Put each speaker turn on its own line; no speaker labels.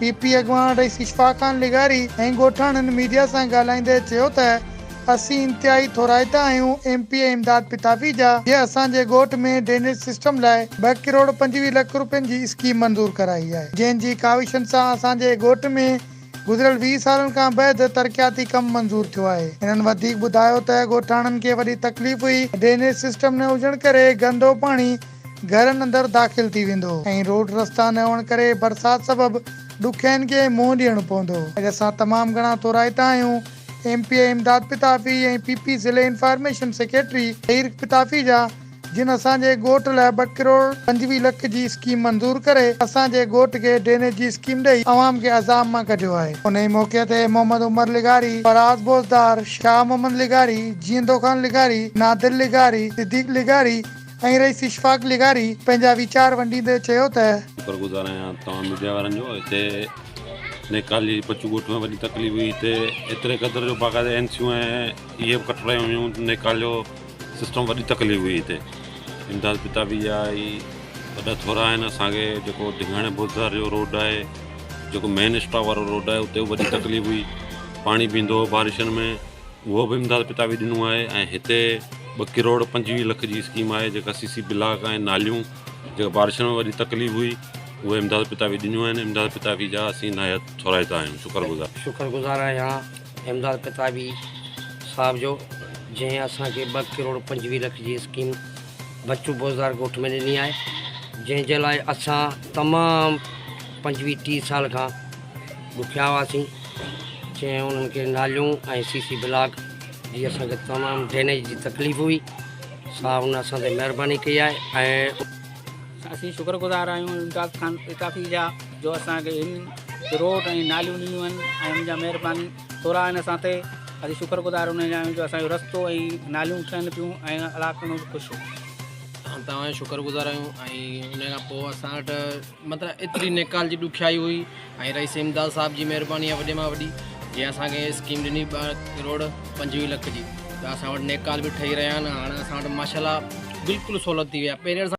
P P اڳواڻ رئيس اشفاق خان لغاري ۽ ڳوٺاڻن ميڊيا سان ڳالهائيندي چيو ته اسين انتهائي ٿورائتا آهيون M P A Imdad Pitafi جا جي اسان جي ڳوٺ ۾ ڊرينيج سسٽم لاء ٻه ڪروڙ پنجويهه لک رپين جي اسڪيم منظور ڪرائي آهي جنهن جي ڪاوشن سان اسان جي ڳوٺ ۾ گذريل ويهه سالن کان بيحد ترقياتي ڪم منظور ٿيو آهي. هنن وڌيڪ ٻڌايو ته ڳوٺاڻن کي وڏي تڪليف هئي ڊرينيج سسٽم نه هجڻ ڪري گندو پاڻي گهرن اندر داخل ٿي ويندو ۽ روڊ رستا نه هئڻ ڪري برسات سبب ڏکيائين کي منهن ڏيڻو پوندو. اڄ اسان تمام گهڻا ٿورائتا آهيون، M P A Imdad Pitafi ۽ P P ضلعي انفارميشن سيڪريٽري طهير پتافي جا جن اسان جي ڳوٺ لاء ٻه ڪروڙ پنجويهه لک جي اسڪيم منظور ڪري اسان جي ڳوٺ کي ڊرينيج جي اسڪيم ڏئي عوام کي عذاب مان ڪڍيو آهي. انهي موقعي تي محمد عمر لغاري، فراز بوزدار، شاهه محمد لغاري، جيئندو خان لغاري، نادر لغاري، صديق لغاري، ۽ رئيس اشفاق لغاري پنهنجا ويچار ونڊيندي چيو ته. شڪر گذار آهيان
توهان ميڊيا وارن جو هتي نيڪالي جي پچو ڳوٺ ۾ وڏي تڪليف هئي هتي ايتري قدر جو باقاعده اين سيون ۽ اي ايف ڪٽ رهيون هيون نيڪال جو سسٽم وڏي تڪليف هئي هتي امداد پتابي جا اي وڏا ٿورا آهن اسان کي جيڪو ڊگهاڻي بوزدار جو روڊ آهي جيڪو مين اسٽاپ وارو روڊ آهي اتي وڏي تڪليف هئي پاڻي بيهندو هو بارشن ۾ اهو به امداد پتاوي ڏنو آهي ۽ هتي ٻه ڪروڙ پنجويهه لک جي اسڪيم آهي جيڪا سي سي بلاڪ ۽ ناليون جيڪا بارشن ۾ وڏي تڪليف هئي اهي امداد پتاوي ڏنيون آهن امداد پتاوي جا اسين نهايت ٿورائتا آهيون شڪر گذار شڪر گذار
آهيان امداد پتاوي صاحب جو جنهن اسان کي ٻه ڪروڙ پنجويهه لک جي اسڪيم بچو بوزدار ڳوٺ ۾ ڏني آهي جنهن جي لاء اسان تمام پنجويهه ٽيهه سال کان ڏکيا هئاسين جنهن انهن کي ناليون ۽ سي سي بلاڪ جي اسان کي تمام ڊرينيج جي تڪليف هئي سا ان اسان تي مهرباني ڪئي آهي ۽ اسين
شڪر گذار آهيون الطاف خان الطافي جا جو اسان کي هن روڊ ۽ ناليون ڏنيون آهن ۽ ان جا مهرباني ٿورا آهن اسان تي اسين شڪر گذار ان جا آهيون جو اسان جو رستو ۽ ناليون ٺهن پيون ۽ علاقن ۾ خوش ۽ توهان
شڪر گذار آهيون ۽ ان کان پوء اسان وٽ متان ايتري نيڪال جي ڏکيائي هئي ۽ رئيس امداد صاحب جي مهرباني آهي وڏي مان وڏي جنهن اسان کي اسڪيم ڏني ٻه ڪروڙ پنجويهه لک جي ته اسان وٽ نيڪال به ٺهي رهيا آهن هاڻ اسان وٽ ماشاء الله بلڪل سهولت ٿي وئي آهي پهرين اسان